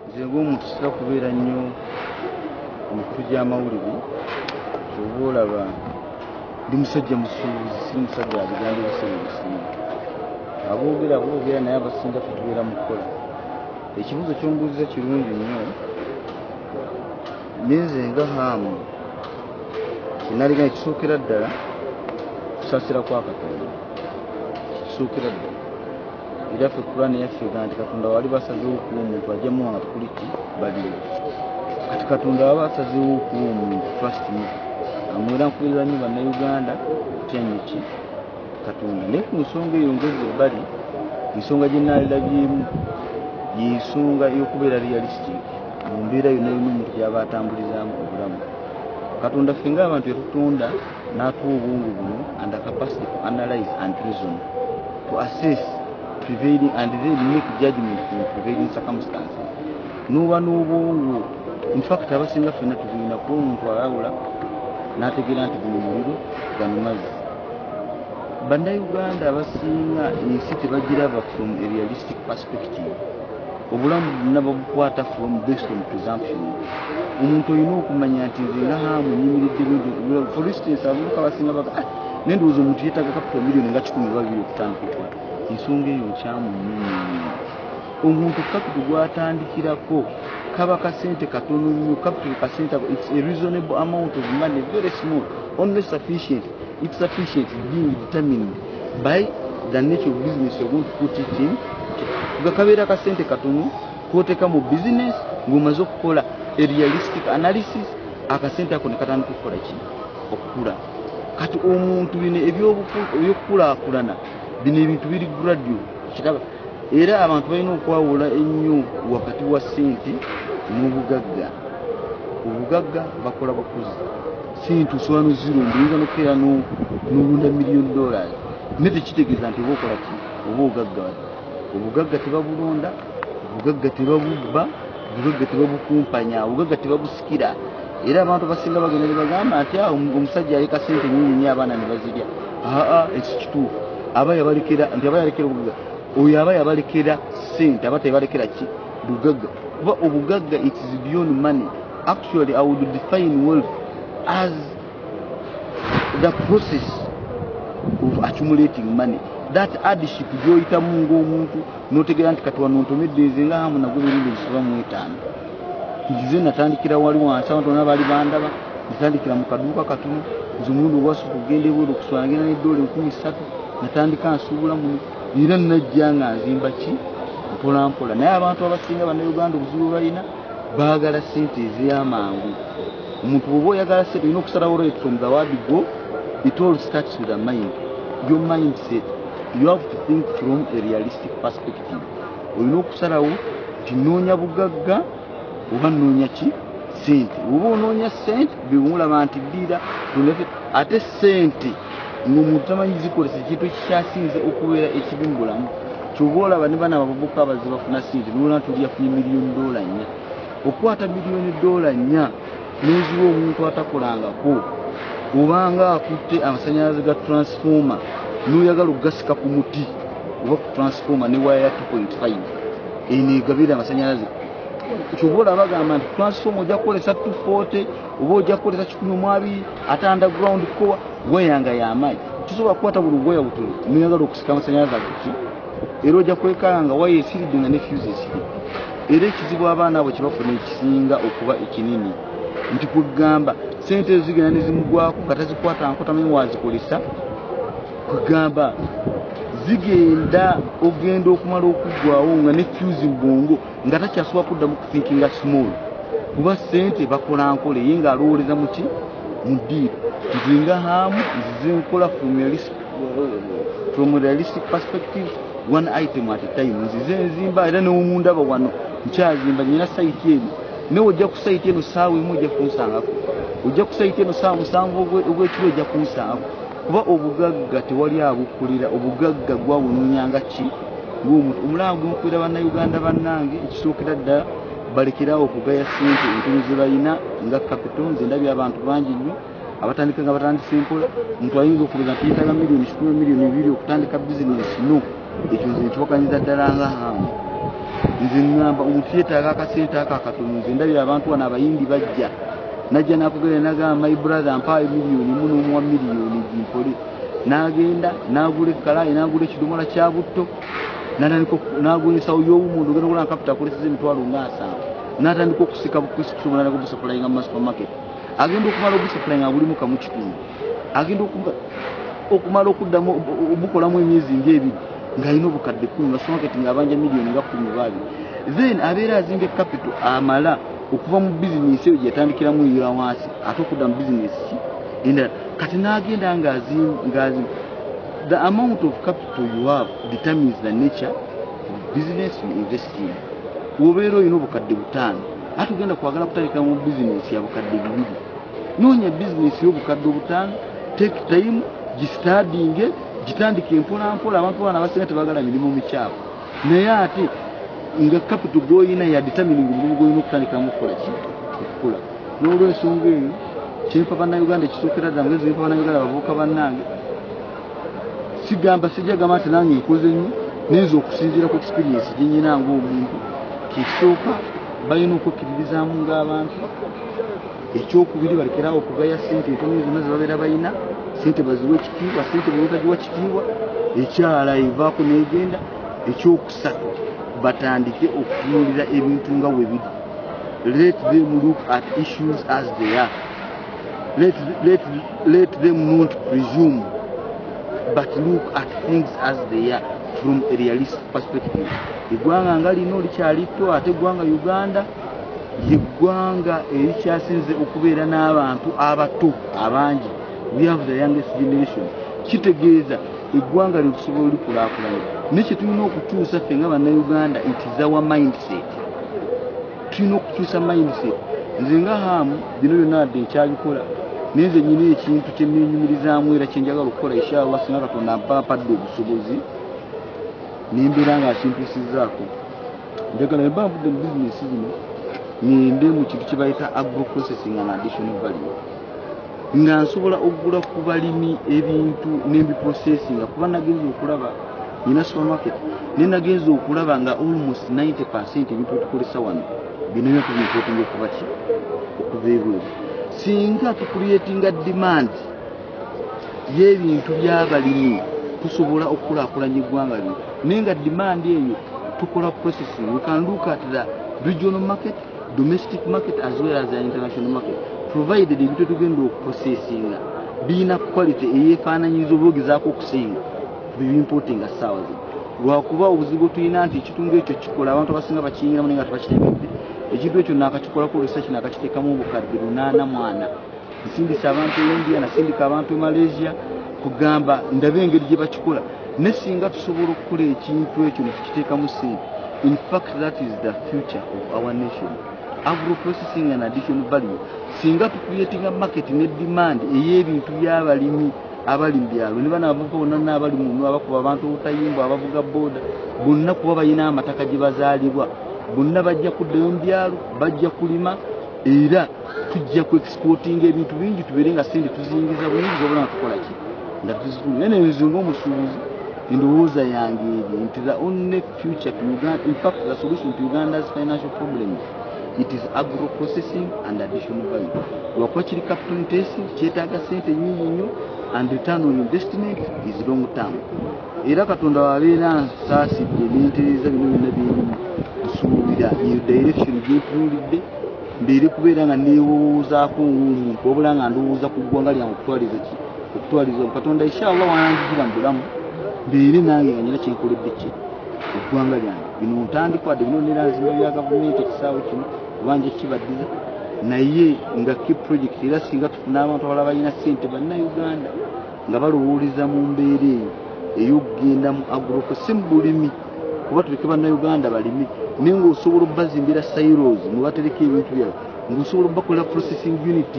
nze ng'omuntu sitera kubeera nnyo ku mikutu gy'amawulire oba olaba ndi musajja musuubuzi si musajja abigambo ebiseera ebisinga aboogera boogera naye abasinga kutubeera mu kukola ekibuuzo kyombuuziza kirungi nnyo nenze nga haamu kyenaligana kisookera ddala kusaasira kwa katonda kisookera ddala era ffe kurani yaffe ega nti katonda wali basazewo okuwa omuntu ajemu wanga tukuli ti baliwo kati katonda waba asazewo okuwa omuntu trust me amwera nkuberera nyo bannauganda kutyanyo ki katonda naye ku nsonga eyo ngezi ebbali ensonga gye naalirabyemu yensonga eyokubeera realistic mu mbeera yonna yonna omuntu gyaba atambulizaamu obulamu katonda ffe nga abantu yatutonda n'atuwa obwongo buno and the capacity to analyze and reason to assess prevailing and then make judgment from prevailing circumstances n'oba n'obwongo in fact abasinga ffenna tubulina kuba omuntu alawula n'ategeera nti guno muliro gano mazzi bannayuganda abasinga ensi tebagiraba from a realistic perspective obulamu bonna babukwata from based on presumption omuntu olina okumanya nti nze nga hamu nyimiridde bino for instance abavubuka basinga baga ah, naye ndowooza omuntu yeetaga capital million nga kikumi babiri okutandika okukola ensonga eyo nkyamu nnyo omuntu capital gwatandikirako kaba kasente katono nnyo capital kasente it's a reasonable amount of money very small only sufficient It's sufficient being determined by the nature of business you're going to put it in. Gakabeera ka sente katono koteka mu business ng'omaze okukola a realistic analysis akasente ako ne katandika okukola ki okukula kati omuntu bino ebyokukulaakulana bino ebintu biri gradio kiraba era abantu balina okwawula ennyo wakati wa sente n'obugagga obugagga bakola bukuzi Sente osobola nozirunda oyinza nokukeera nolunda million dollars naye tekitegeeza nti oba okola ki oba ogagga obugagga tebabulonda obugagga tebabubba obugagga tebabukumpanya obugagga tebabusikira era abantu abasinga bagenda nebagamba nti ah, omusajja aleka sente nyinyi nyo abaana nebazirya aa ekyo kituufu aba yabalekera nti aba yalekera obugagga oyo aba yabalekera sente aba tebalekera ki bugagga kuba obugagga it is beyond money actually i would define wealth as the process of accumulating money that adship gyoyitamu ngaomuntu notegeera nti kati wanontomedde nze nga hamu nagwe mirindi egisoba mu etaano nze natandikira wali wansi abantu bona bali bandaba natandikira mu kaduuka katono nze omulundi ogwasooka okugenda ebweru okuswala ngenda neddoola enkumi ssatu natandika nsuubula muno era najja nga nzimba ki mpolampola naye abantu abasinga banauganda obuzibu balina baagala sente ezamangu omuntu oba oyagala sente olina okusalawo right from the word go it all starts with a mind your mindset you have to think from a realistic perspective olina okusalawo nti noonya bugagga oba noonya ki sente oba onoonya sente bewulaba nti ddiira ate sente ng'omuntu tamanyi zikozesa ekintu ekikyasinze okubeera ekibi mu bulamu kyoba olaba ne bana babavuka abaze bafuna sente nolona tuli yafunye miliyoni dola nnya okukwata miliyoni dola nnya n'eziwa omuntu atakolangako obanga akutte amasanyalaze ga transformer n'oyagala okugasika ku muti oba ku transformer ne waya ya 2.5 eno egabira amasanyalaze kyoba olaba agamba nti transformer ojja kukolesa 240 oba ojja kukolesa kikumi omwabi ate underground kukowa gweyanga yamayi tusobola kukwata buli gweya butu noyagala okusika amasanyalaze agoki era ojja kwekala nga waya esiridde nga ne fuse esiri era ekizibu abaana abo kyebafuna ekisinga okuba ekinini nti kwegamba sente ezo zigenda nezimugwako nga tazikwata nkotamenyi wazikolesa kwegamba zigenda ogenda okumala okuggwawo nga ne fuse mbungu nga takyasobola kuddamu kuthinkinga small kuba sente bakola nkola eye nga alowooleza muki mu diiro nzinga haamu nzize nkola from realistic perspective one item at a time nzize nzimba era newomundaba wano nkyazimba nyina saiti eno nawe ojja ku saiti eno saawa emu ojja kunsangako ojja ku saiti eno saawa musanvu ogwekiro ojja kunsangako kuba obugagga tewali abukulira obugagga gwawununya nga ki ngomuntu omulanga gumukulira bannayuganda bannange ekisookera ddala balekerawo okugaya sente entono ze balina nga kapito nze ndabye abantu bangi nnyo abatandika nga batandise mpola omuntu ayinza okuloza nti yetaga miliyoni kikumi miliyoni biri okutandika bizinesi no ekyo nze nkiwakanyiza ddala nga hamu nze ŋŋamba omuntu yeetaaga akasente ako akatono nze ndabira abantu wano abayindi bajja najja nakugenda nagamba my brother mpaayo miliyoni mu n'omuwa miliyoni gimpole n'agenda n'agula ekkalaayi n'agula ekidomola kya butto natandika n'agwesawo y'owumuntu ogenda okulanga kapita akoleseza emitwalo ng'asanvu n'atandika okusika bukusika omulanagobusapulainga mu masupermarket agenda okumala ogusapula nga gulimu kamu kitundu agenda okumala okuddamu obukolamu emyezi nga ebiri ng'alina obukadde kumi nga sumaketi ng'abanja miliyoni nga kumi baabi then abeera azimbye kapito amala okuva mu bizinesi eyo gyeyatandikiramu eya wansi ate okudda mu bizinesi ki endala kati n'agenda ng'azimba the amount of capital you have determines the nature of business you invest in wobeera olina obukadde butaano ate ogenda kwagala kutandika mu bizinesi ya bukadde bibiri noonya bizinesi y'obukadde obutaano take time gistadinge gitandika empolampola abantu baana abasinga tebagala mirimu mikyafu naye ate nga kapito gwoyina yaditamining omulimu gwoyina okutandika mukukola ki okukula n'olwensonga eyo kyempa bannayuganda ekisookera ddala mugezi mpa bannayuganda bavuuka bannange sigamba sijja gamba nti nange nkoze nnyo nayinza okusinziira ku experiensi gyenyina ngaomuntu kyekisooka balina okwekkiririzaamu ng'abantu ekyokubiri balekerawo okugaya sente entono zonna zebabeera balina sente baziwa ekitiibwa sente bwebatagiwa kitiibwa ekyala evaako negenda ekyokusatu batandike okutunulira ebintu nga webiri let them look at issues as they are Let, let, let them not presume but look at things as they are from a realistic perspective eggwanga nga lino likyalitto ate eggwanga uganda yeggwanga erikyasinze okubeera n'abantu abato abangi we have the youngest generation kitegeeza eggwanga lyo tusobola olikulakulana ne kyetulina okutuusa ffe nga bannauganda it is our mindset tulina okukyusa mindset nze nga haamu bino byonna adde nkyabikola naye nze nyina ekintu kyenenyumirizaamu era kyenjagala okukola inshallah singa katonda mpampadde obusobozi nembeera nga akintusizaako njagala ne bambudde mu bizinesi zino ngende mu kintu kye bayita agro processing and additional value nga nsobola okugula ku balimi ebintu nembiprocesinga kuba nagenza okulaba nina supermarket naye nagenza okulaba nga almost 90 percent ebintu byetukozesa wano binabya kubinkotinga okuba ki okuva ebweru singa tucreatinga demand yebintu byabalimi tusobola okukulakulanya eggwanga lino naye nga demand eyo tukola processing we can look at the regional market domestic market as well as international market provided ebintu tugenda okuprocessinga birina quality eyefaananyiriza oba ogezaako okusinga bibimportinga ssaawa zino lwakuba obuzibu tulina nti ekitundu ekyo kikola abantu abasinga bakiyingiramu naye nga tebakitegedde ekintu ekyo nakakikola ku research nakakiteekamu obukadde lunaana mwana nsindise abantu e india nasindika abantu e malaysia kugamba ndabe engeri gye bakikola ne singa tusobola okukola ekintu ekyo nekukiteekamu sente infact that is the future of our nation agroprocessing and addition value singa tucreatinga market ne demand ey'ebintu by'abalimi abali mu byalo ne bana abavubuka bonna naabali munu abakuba abantu obutayimbwa abavuga booda bonna kuba balina amataka gye bazaalibwa bonna bajja kuddayo mu byalo bajja kulima era tujja ku exportinga ebintu bingi tubeere nga sente tuzingiza buyingi zobola natukola ki nga tuzitunda naye nenze ngaomusuubuzi endowooza yange eri nti the only future to uganda in fact the solution to uganda's financial problems it is agro processing and additional value lwakuba kiri capital intensive kyetaaga sente nyingi nnyo and return on investment is long term era katonda wabeera nsaasidde nentereza bino byonna byerimu nsuubira eyo direction gyetuulidde mbeere kubeera nga neewowoozaako ng'omuntu wabula nga ndowooza ku ggwanga lyange okutwaliza ki okutwaliza katonda inshallah wananjijira mu bulamu mbeere nange nga nyina kyenkoledde ki eggwanga lyange bino ntandikwadde bino neranzimba bya gavumenti ekisaawe kino obanja kibaddiza naye nga ki project era singa tufuna abantu abala balina sente bannauganda nga balowooleza mu mbeera eyo ey'okugenda mu agroko si mu bulimi kuba tuleke bannayuganda balimi naye ngaosobola okubazimbira silos mwebatereka ebintu byabo ngaosobola okubakolera processing unit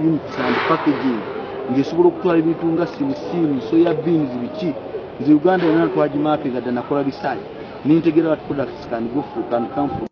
units and packaging ngaesobola okutwala ebintu nga simusiimu soya beans biki nze uganda yona twagimaapinga dda nakola bisaali nintegeera wat products can go for can come from